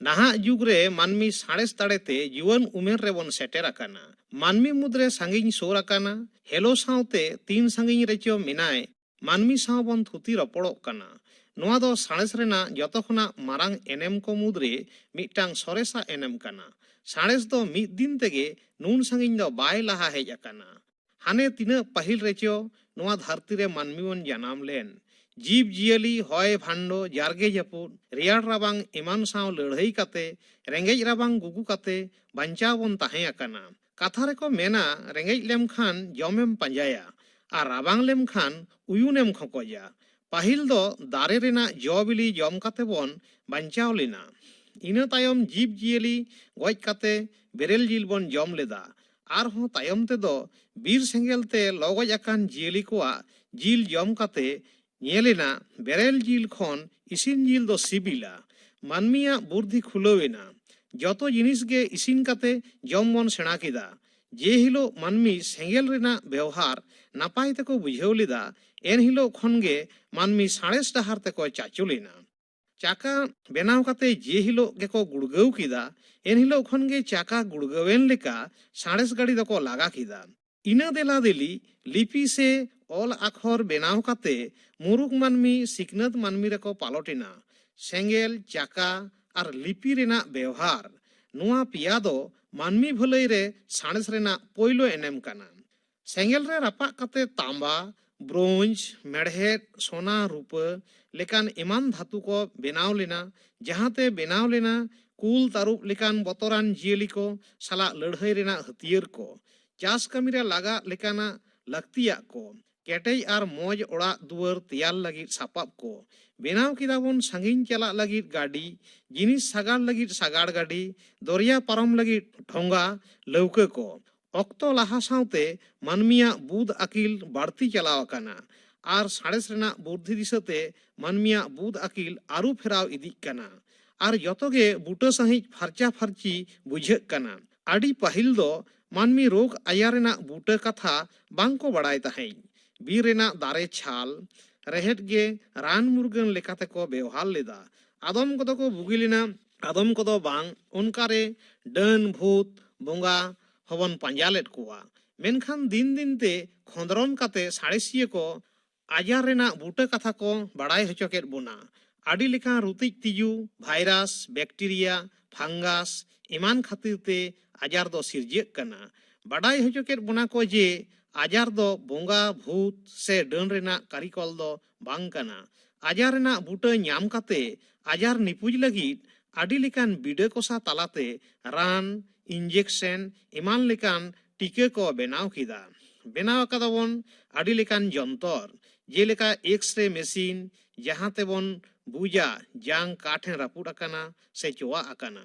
ᱱᱟᱦᱟᱜ ᱡᱩᱜᱽ ᱨᱮ ᱢᱟᱹᱱᱢᱤ ᱥᱟᱬᱮᱥ ᱫᱟᱲᱮ ᱛᱮ ᱡᱩᱣᱟᱹᱱ ᱩᱢᱮᱨ ᱨᱮ ᱵᱚᱱ ᱥᱮᱴᱮᱨ ᱟᱠᱟᱱᱟ᱾ ᱢᱟᱹᱱᱢᱤ ᱢᱩᱫᱽ ᱨᱮ ᱥᱟᱺᱜᱤᱧ ᱥᱳᱨ ᱟᱠᱟᱱᱟ᱾ ᱦᱮᱞᱳ ᱥᱟᱶ ᱛᱮ ᱛᱤᱱ ᱥᱟᱺᱜᱤᱧ ᱨᱮ ᱪᱚ ᱢᱮᱱᱟᱭ ᱢᱟᱹᱱᱢᱤ ᱥᱟᱶ ᱵᱚᱱ ᱛᱷᱩᱛᱤ ᱨᱚᱯᱚᱲᱚᱜ ᱠᱟᱱᱟ᱾ ᱱᱚᱶᱟ ᱫᱚ ᱥᱟᱬᱮᱥ ᱨᱮᱱᱟᱜ ᱡᱚᱛᱚ ᱠᱷᱚᱱᱟᱜ ᱢᱟᱨᱟᱝ ᱮᱱᱮᱢ ᱠᱚ ᱢᱩᱫᱽ ᱨᱮ ᱢᱤᱫᱴᱟᱝ ᱥᱚᱨᱮᱥᱟᱜ ᱮᱱᱮᱢ ᱠᱟᱱᱟ᱾ ᱥᱟᱬᱮᱥ ᱫᱚ ᱢᱤᱫ ᱫᱤᱱ ᱛᱮᱜᱮ ᱱᱩᱱ ᱥᱟᱺᱜᱤᱧ ᱫᱚ ᱵᱟᱭ ᱞᱟᱦᱟ ᱦᱮᱡ ᱟᱠᱟᱱᱟ᱾ ᱦᱟᱱᱮ ᱛᱤᱱᱟᱹᱜ ᱯᱟᱹᱦᱤᱞ ᱨᱮᱪᱚ ᱱᱚᱣᱟ ᱫᱷᱟᱹᱨᱛᱤ ᱨᱮ ᱢᱟᱹᱱᱢᱤ ᱵᱚᱱ ᱡᱟᱱᱟᱢ ᱞᱮᱱ᱾ ᱡᱤᱵᱽ ᱡᱤᱭᱟᱹᱞᱤ ᱦᱚᱭ ᱵᱷᱟᱱᱰᱚ, ᱡᱟᱨᱜᱮ ᱡᱟᱹᱯᱩᱫ, ᱨᱮᱭᱟᱲ ᱨᱟᱵᱟᱝ ᱮᱢᱟᱱ ᱥᱟᱶ ᱞᱟᱹᱲᱦᱟᱹᱭ ᱠᱟᱛᱮ, ᱨᱮᱸᱜᱮᱡ ᱨᱟᱵᱟᱝ ᱜᱩᱜᱩ ᱠᱟᱛᱮ ᱵᱟᱧᱪᱟᱣ ᱵᱚᱱ ᱛᱟᱦᱮᱸ ᱟᱠᱟᱱᱟ᱾ ᱠᱟᱛᱷᱟ ᱨᱮᱠᱚ ᱢᱮᱱᱟ ᱨᱮᱸᱜᱮᱡ ᱞᱮᱢ ᱠᱷᱟᱱ ᱡᱚᱢ ᱮᱢ ᱯᱟᱸᱡᱟᱭᱟ ᱟᱨ ᱨᱟᱵᱟᱝ ᱞᱮᱢ ᱠᱷᱟᱱ ᱩᱭᱩᱱ ᱮᱢ ᱠᱷᱚᱠᱚᱡᱟ᱾ ᱯᱟᱹᱦᱤᱞ ᱫᱚ ᱫᱟᱨᱮ ᱨᱮᱱᱟᱜ ᱡᱚ ᱵᱤᱞᱤ ᱡᱚᱢ ᱠᱟᱛᱮ ᱵᱚᱱ ᱵᱟᱧᱪᱟᱣ ᱞᱮᱱᱟ᱾ ᱤᱱᱟᱹ ᱛᱟᱭᱚᱢ ᱡᱤᱵᱽ ᱡᱤᱭᱟᱹᱞᱤ ᱜᱚᱡ ᱠᱟᱛᱮ ᱵᱮᱨᱮᱞ ᱡᱤᱞ ᱵᱚᱱ ᱡᱚᱢ ᱞᱮᱫᱟ ᱟᱨ ᱦᱚᱸ ᱛᱟᱭᱚᱢ ᱛᱮᱫᱚ ᱵᱤᱨ ᱥᱮᱸᱜᱮᱞ ᱛᱮ ᱞᱚ ᱜᱚᱡ ᱟᱠᱟᱱ ᱡᱤᱭᱟᱹᱞᱤ ᱠᱚᱣᱟᱜ ᱡᱤᱞ ᱡᱚᱢ ᱠᱟᱛᱮ ᱧᱮᱞ ᱮᱱᱟ ᱵᱮᱨᱮᱞ ᱡᱤᱞ ᱠᱷᱚᱱ ᱤᱥᱤᱱ ᱡᱤᱞ ᱫᱚ ᱥᱤᱵᱤᱞᱟ᱾ ᱢᱟᱹᱱᱢᱤᱭᱟᱜ ᱵᱩᱨᱫᱷᱤ ᱠᱷᱩᱞᱟᱹᱣ ᱮᱱᱟ᱾ ᱡᱚᱛᱚ ᱡᱤᱱᱤᱥ ᱜᱮ ᱤᱥᱤᱱ ᱠᱟᱛᱮ ᱡᱚᱢ ᱵᱚᱱ ᱥᱮᱬᱟ ᱠᱮᱫᱟ᱾ ᱡᱮ ᱦᱤᱞᱚᱜ ᱢᱟᱹᱱᱢᱤ ᱥᱮᱸᱜᱮᱞ ᱨᱮᱱᱟᱜ ᱵᱮᱣᱦᱟᱨ ᱱᱟᱯᱟᱭ ᱛᱮᱠᱚ ᱵᱩᱡᱷᱟᱹᱣ ᱞᱮᱫᱟ, ᱮᱱ ᱦᱤᱞᱚᱜ ᱠᱷᱚᱱ ᱜᱮ ᱢᱟᱹᱱᱢᱤ ᱥᱟᱬᱮᱥ ᱰᱟᱦᱟᱨ ᱛᱮᱠᱚ ᱪᱟᱪᱚᱞᱮᱱᱟ᱾ ᱪᱟᱠᱟ ᱵᱮᱱᱟᱣ ᱠᱟᱛᱮ ᱡᱮ ᱦᱤᱞᱳᱜ ᱜᱮᱠᱚ ᱜᱩᱲᱜᱟᱹᱣ ᱠᱮᱫᱟ ᱮᱱ ᱦᱤᱞᱳᱜ ᱠᱷᱚᱱ ᱜᱮ ᱪᱟᱠᱟ ᱜᱩᱲᱜᱟᱹᱣᱮᱱ ᱞᱮᱠᱟ ᱥᱟᱬᱮᱥ ᱜᱟᱹᱰᱤ ᱫᱚᱠᱚ ᱞᱟᱜᱟ ᱠᱮᱫᱟ᱾ ᱤᱱᱟᱹ ᱫᱮᱞᱟ ᱫᱮᱞᱤ ᱞᱤᱯᱤ ᱥᱮ ᱚᱞ ᱟᱠᱷᱚᱨ ᱵᱮᱱᱟᱣ ᱠᱟᱛᱮ ᱢᱩᱨᱩᱠ ᱢᱟᱹᱱᱢᱤ ᱥᱤᱠᱷᱱᱟᱹᱛ ᱢᱟᱹᱱᱢᱤ ᱨᱮᱠᱚ ᱯᱟᱞᱚᱴ ᱮᱱᱟ᱾ ᱥᱮᱸᱜᱮᱞ, ᱪᱟᱠᱟ ᱟᱨ ᱞᱤᱯᱤ ᱨᱮᱱᱟᱜ ᱵᱮᱣᱦᱟᱨ, ᱱᱚᱶᱟ ᱯᱮᱭᱟ ᱫᱚ ᱢᱟᱹᱱᱢᱤ ᱵᱷᱟᱹᱞᱟᱹᱭ ᱨᱮ ᱥᱟᱬᱮᱥ ᱨᱮᱱᱟᱜ ᱯᱳᱭᱞᱳ ᱮᱱᱮᱢ ᱠᱟᱱᱟ᱾ ᱥᱮᱸᱜᱮᱞ ᱨᱮ ᱨᱟᱯᱟᱜ ᱠᱟᱛᱮ ᱛᱟᱸᱵᱟ, ᱵᱨᱳᱸᱡᱽ, ᱢᱮᱬᱦᱮᱫ, ᱥᱚᱱᱟ, ᱨᱩᱯᱟᱹ ᱞᱮᱠᱟᱱ ᱮᱢᱟᱱ ᱫᱷᱟᱹᱛᱩ ᱠᱚ ᱵᱮᱱᱟᱣ ᱞᱮᱱᱟ, ᱡᱟᱦᱟᱸ ᱛᱮ ᱵᱮᱱᱟᱣ ᱞᱮᱱᱟ ᱠᱩᱞ, ᱛᱟᱹᱨᱩᱵ ᱞᱮᱠᱟᱱ ᱵᱚᱛᱚᱨᱟᱱ ᱡᱤᱭᱟᱹᱞᱤ ᱠᱚ ᱥᱟᱞᱟᱜ ᱞᱟᱹᱲᱦᱟᱹᱭ ᱨᱮᱱᱟᱜ ᱦᱟᱹᱛᱭᱟᱹᱨ ᱠᱚ, ᱪᱟᱥ ᱠᱟᱹᱢᱤ ᱨᱮ ᱞᱟᱜᱟᱜ ᱞᱮᱠᱟᱱᱟᱜ ᱞᱟᱹᱠᱛᱤᱭᱟᱜ ᱠᱚ, ᱠᱮᱴᱮᱡ ᱟᱨ ᱢᱚᱡᱽ ᱚᱲᱟᱜ ᱫᱩᱣᱟᱹᱨ ᱛᱮᱭᱟᱨ ᱞᱟᱹᱜᱤᱫ ᱥᱟᱯᱟᱵ ᱠᱚ᱾ ᱵᱮᱱᱟᱣ ᱠᱮᱫᱟ ᱵᱚᱱ ᱥᱟᱺᱜᱤᱧ ᱪᱟᱞᱟᱜ ᱞᱟᱹᱜᱤᱫ ᱜᱟᱹᱰᱤ, ᱡᱤᱱᱤᱥ ᱥᱟᱜᱟᱲ ᱞᱟᱹᱜᱤᱫ ᱥᱟᱜᱟᱲ ᱜᱟᱹᱰᱤ, ᱫᱚᱨᱭᱟ ᱯᱟᱨᱚᱢ ᱞᱟᱹᱜᱤᱫ ᱰᱷᱚᱸᱜᱟ, ᱞᱟᱹᱣᱠᱟᱹ ᱠᱚ᱾ ᱚᱠᱛᱚ ᱞᱟᱦᱟ ᱥᱟᱶᱛᱮ ᱢᱟᱹᱱᱢᱤᱭᱟᱜ ᱵᱩᱫᱷ ᱟᱹᱠᱤᱞ ᱵᱟᱹᱲᱛᱤ ᱪᱟᱞᱟᱣ ᱟᱠᱟᱱᱟ ᱟᱨ ᱥᱟᱬᱮᱥ ᱨᱮᱱᱟᱜ ᱵᱩᱨᱫᱷᱤ ᱫᱤᱥᱟᱹ ᱛᱮ ᱢᱟᱹᱱᱢᱤᱭᱟᱜ ᱵᱩᱫᱷ ᱟᱹᱠᱤᱞ ᱟᱹᱨᱩ ᱯᱷᱮᱨᱟᱣ ᱤᱫᱤᱜ ᱠᱟᱱᱟ ᱟᱨ ᱡᱚᱛᱚ ᱜᱮ ᱵᱩᱴᱟᱹ ᱥᱟᱺᱦᱤᱡ ᱯᱷᱟᱨᱪᱟ ᱯᱷᱟᱨᱪᱤ ᱵᱩᱡᱷᱟᱹᱜ ᱠᱟᱱᱟ᱾ ᱟᱹᱰᱤ ᱯᱟᱹᱦᱤᱞ ᱫᱚ ᱢᱟᱹᱱᱢᱤ ᱨᱳᱜᱽ ᱟᱭᱟᱨ ᱨᱮᱱᱟᱜ ᱵᱩᱴᱟᱹ ᱠᱟᱛᱷᱟ ᱵᱟᱝ ᱠᱚ ᱵᱟᱲᱟᱭ ᱛᱟᱦᱮᱸᱡ᱾ ᱵᱤᱨ ᱨᱮᱱᱟᱜ ᱫᱟᱨᱮ ᱪᱷᱟᱞ, ᱨᱮᱦᱮᱫ ᱜᱮ ᱨᱟᱱ ᱢᱩᱨᱜᱟᱹᱱ ᱞᱮᱠᱟᱛᱮ ᱠᱚ ᱵᱮᱣᱦᱟᱨ ᱞᱮᱫᱟ᱾ ᱟᱫᱚᱢ ᱠᱚᱫᱚ ᱠᱚ ᱵᱩᱜᱤ ᱞᱮᱱᱟ ᱟᱫᱚᱢ ᱠᱚᱫᱚ ᱵᱟᱝ ᱚᱱᱠᱟ ᱨᱮ ᱰᱟᱹᱱ ᱵᱷᱩᱛ ᱵᱚᱸᱜᱟ ᱦᱚᱵᱚᱱ ᱯᱟᱸᱡᱟ ᱞᱮᱫ ᱠᱚᱣᱟ ᱢᱮᱱᱠᱷᱟᱱ ᱫᱤᱱ ᱫᱤᱱ ᱛᱮ ᱠᱷᱚᱸᱫᱽᱨᱚᱱ ᱠᱟᱛᱮ ᱥᱟᱬᱮᱥᱤᱭᱟᱹ ᱠᱚ ᱟᱡᱟᱨ ᱨᱮᱱᱟᱜ ᱵᱩᱴᱟᱹ ᱠᱟᱛᱷᱟ ᱠᱚ ᱵᱟᱲᱟᱭ ᱦᱚᱪᱚ ᱠᱮᱫ ᱵᱚᱱᱟ ᱟᱹᱰᱤ ᱞᱮᱠᱟᱱ ᱨᱩᱛᱤᱡ ᱛᱤᱡᱩ ᱵᱷᱟᱭᱨᱟᱥ ᱵᱮᱠᱴᱮᱨᱤᱭᱟ ᱯᱷᱟᱝᱜᱟᱥ ᱮᱢᱟᱱ ᱠᱷᱟᱹᱛᱤᱨ ᱛᱮ ᱟᱡᱟᱨ ᱫᱚ ᱥᱤᱨᱡᱟᱹᱜ ᱠᱟᱱᱟ ᱵᱟᱰᱟᱭ ᱦᱚᱪᱚ ᱠᱮᱫ ᱵᱚᱱᱟ ᱠᱚ ᱡᱮ ᱟᱡᱟᱨ ᱫᱚ ᱵᱚᱸᱜᱟ ᱵᱷᱩᱛ ᱥᱮ ᱰᱟᱹᱱ ᱨᱮᱱᱟᱜ ᱠᱟᱹᱨᱤᱠᱚᱞ ᱫᱚ ᱵᱟᱝ ᱠᱟᱱᱟ᱾ ᱟᱡᱟᱨ ᱨᱮᱱᱟᱜ ᱵᱩᱴᱟᱹ ᱧᱟᱢ ᱠᱟᱛᱮ ᱟᱡᱟᱨ ᱱᱤᱯᱩᱡ ᱞᱟᱹᱜᱤᱫ ᱟᱹᱰᱤ ᱞᱮᱠᱟᱱ ᱵᱤᱰᱟᱹ ᱠᱚᱥᱟ ᱛᱟᱞᱟᱛᱮ ᱨᱟᱱ, ᱤᱱᱡᱮᱠᱥᱮᱱ ᱮᱢᱟᱱ ᱞᱮᱠᱟᱱ ᱴᱤᱠᱟᱹ ᱠᱚ ᱵᱮᱱᱟᱣ ᱠᱮᱫᱟ᱾ ᱵᱮᱱᱟᱣ ᱟᱠᱟᱫᱟ ᱵᱚᱱ ᱟᱹᱰᱤ ᱞᱮᱠᱟᱱ ᱡᱚᱱᱛᱚᱨ ᱡᱮᱞᱮᱠᱟ ᱮᱠᱥᱨᱮ ᱢᱮᱥᱤᱱ ᱡᱟᱦᱟᱸ ᱛᱮᱵᱚᱱ ᱵᱩᱡᱟ ᱡᱟᱝ ᱠᱟ ᱴᱷᱮᱱ ᱨᱟᱹᱯᱩᱫ ᱟᱠᱟᱱᱟ ᱥᱮ ᱪᱚᱣᱟᱜ ᱟᱠᱟᱱᱟ᱾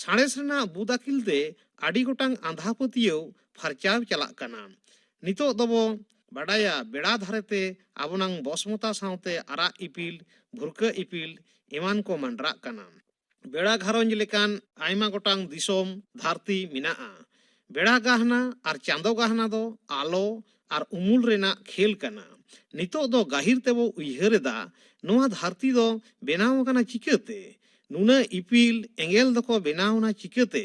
ᱥᱟᱬᱮᱥ ᱨᱮᱱᱟᱜ ᱵᱩᱫ ᱟᱹᱠᱤᱞ ᱛᱮ ᱟᱹᱰᱤ ᱜᱚᱴᱟᱝ ᱟᱸᱫᱷᱟ ᱯᱟᱹᱛᱭᱟᱹᱣ ᱯᱷᱟᱨᱪᱟᱣ ᱪᱟᱞᱟᱜ ᱠᱟᱱᱟ ᱱᱤᱛᱚᱜ ᱫᱚᱵᱚ ᱵᱟᱰᱟᱭᱟ ᱵᱮᱲᱟ ᱫᱷᱟᱨᱮ ᱛᱮ ᱟᱵᱚᱱᱟᱝ ᱵᱚᱥᱢᱚᱛᱟ ᱥᱟᱶᱛᱮ ᱟᱨᱟᱜ ᱤᱯᱤᱞ ᱵᱷᱩᱨᱠᱟᱹ ᱤᱯᱤᱞ ᱮᱢᱟᱱ ᱠᱚ ᱢᱟᱸᱰᱨᱟᱜ ᱠᱟᱱᱟ ᱵᱮᱲᱟ ᱜᱷᱟᱨᱚᱸᱡᱽ ᱞᱮᱠᱟᱱ ᱟᱭᱢᱟ ᱜᱚᱴᱟᱝ ᱫᱤᱥᱚᱢ ᱫᱷᱟᱹᱨᱛᱤ ᱢᱮᱱᱟᱜᱼᱟ ᱵᱮᱲᱟ ᱜᱟᱦᱱᱟ ᱟᱨ ᱪᱟᱸᱫᱚ ᱜᱟᱦᱱᱟ ᱫᱚ ᱟᱞᱚ ᱟᱨ ᱩᱢᱩᱞ ᱨᱮᱱᱟᱜ ᱠᱷᱮᱞ ᱠᱟᱱᱟ᱾ ᱱᱤᱛᱚᱜ ᱫᱚ ᱜᱟᱹᱦᱤᱨ ᱛᱮᱵᱚ ᱩᱭᱦᱟᱹᱨ ᱮᱫᱟ ᱱᱚᱶᱟ ᱫᱷᱟᱹᱨᱛᱤ ᱫᱚ ᱵᱮᱱᱟᱣ ᱟᱠᱟᱱᱟ ᱪᱤᱠᱟᱹᱛᱮ? ᱱᱩᱱᱟᱹᱜ ᱤᱯᱤᱞ ᱮᱸᱜᱮᱞ ᱫᱚᱠᱚ ᱵᱮᱱᱟᱣ ᱮᱱᱟ ᱪᱤᱠᱟᱹᱛᱮ?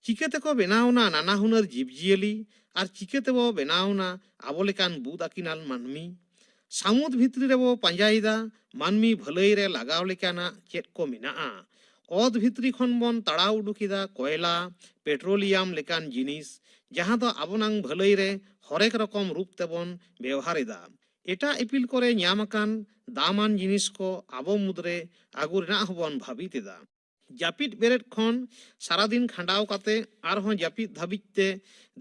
ᱪᱤᱠᱟᱹ ᱛᱮᱠᱚ ᱵᱮᱱᱟᱣ ᱮᱱᱟ ᱱᱟᱱᱟ ᱦᱩᱱᱟᱹᱨ ᱡᱤᱵᱽ ᱡᱤᱭᱟᱹᱞᱤ ᱟᱨ ᱪᱤᱠᱟᱹ ᱛᱮᱵᱚ ᱵᱮᱱᱟᱣ ᱮᱱᱟ ᱟᱵᱚ ᱞᱮᱠᱟᱱ ᱵᱩᱫᱽ ᱟᱹᱠᱤᱱᱟᱱ ᱢᱟᱹᱱᱢᱤ? ᱥᱟᱹᱢᱩᱫ ᱵᱷᱤᱛᱨᱤ ᱨᱮᱵᱚ ᱯᱟᱸᱡᱟᱭᱮᱫᱟ ᱢᱟᱹᱱᱢᱤ ᱵᱷᱟᱹᱞᱟᱹᱭ ᱨᱮ ᱞᱟᱜᱟᱣ ᱞᱮᱠᱟᱱᱟᱜ ᱪᱮᱫ ᱠᱚ ᱢᱮᱱᱟᱜᱼᱟ ᱚᱛ ᱵᱷᱤᱛᱨᱤ ᱠᱷᱚᱱ ᱵᱚᱱ ᱛᱟᱲᱟᱣ ᱩᱰᱩᱠᱮᱫᱟ ᱠᱚᱭᱞᱟ ᱯᱮᱴᱨᱳᱞᱤᱭᱟᱢ ᱞᱮᱠᱟᱱ ᱡᱤᱱᱤᱥ ᱡᱟᱦᱟᱸ ᱫᱚ ᱟᱵᱚᱱᱟᱝ ᱵᱷᱟᱹᱞᱟᱹᱭ ᱨᱮ ᱦᱚᱨᱮᱠ ᱨᱚᱠᱚᱢ ᱨᱩᱯ ᱛᱮᱵᱚᱱ ᱵᱮᱣᱦᱟᱨᱮᱫᱟ ᱮᱴᱟᱜ ᱤᱯᱤᱞ ᱠᱚᱨᱮ ᱧᱟᱢ ᱟᱠᱟᱱ ᱫᱟᱢᱟᱱ ᱡᱤᱱᱤᱥ ᱠᱚ ᱟᱵᱚ ᱢᱩᱫᱽᱨᱮ ᱟᱹᱜᱩ ᱨᱮᱱᱟᱜ ᱦᱚᱸᱵᱚᱱ ᱵᱷᱟᱹᱵᱤᱛᱮᱫᱟ ᱡᱟᱹᱯᱤᱫ ᱵᱮᱨᱮᱫ ᱠᱷᱚᱱ ᱥᱟᱨᱟᱫᱤᱱ ᱠᱷᱟᱸᱰᱟᱣ ᱠᱟᱛᱮ ᱟᱨᱦᱚᱸ ᱡᱟᱹᱯᱤᱫ ᱫᱷᱟᱹᱵᱤᱡ ᱛᱮ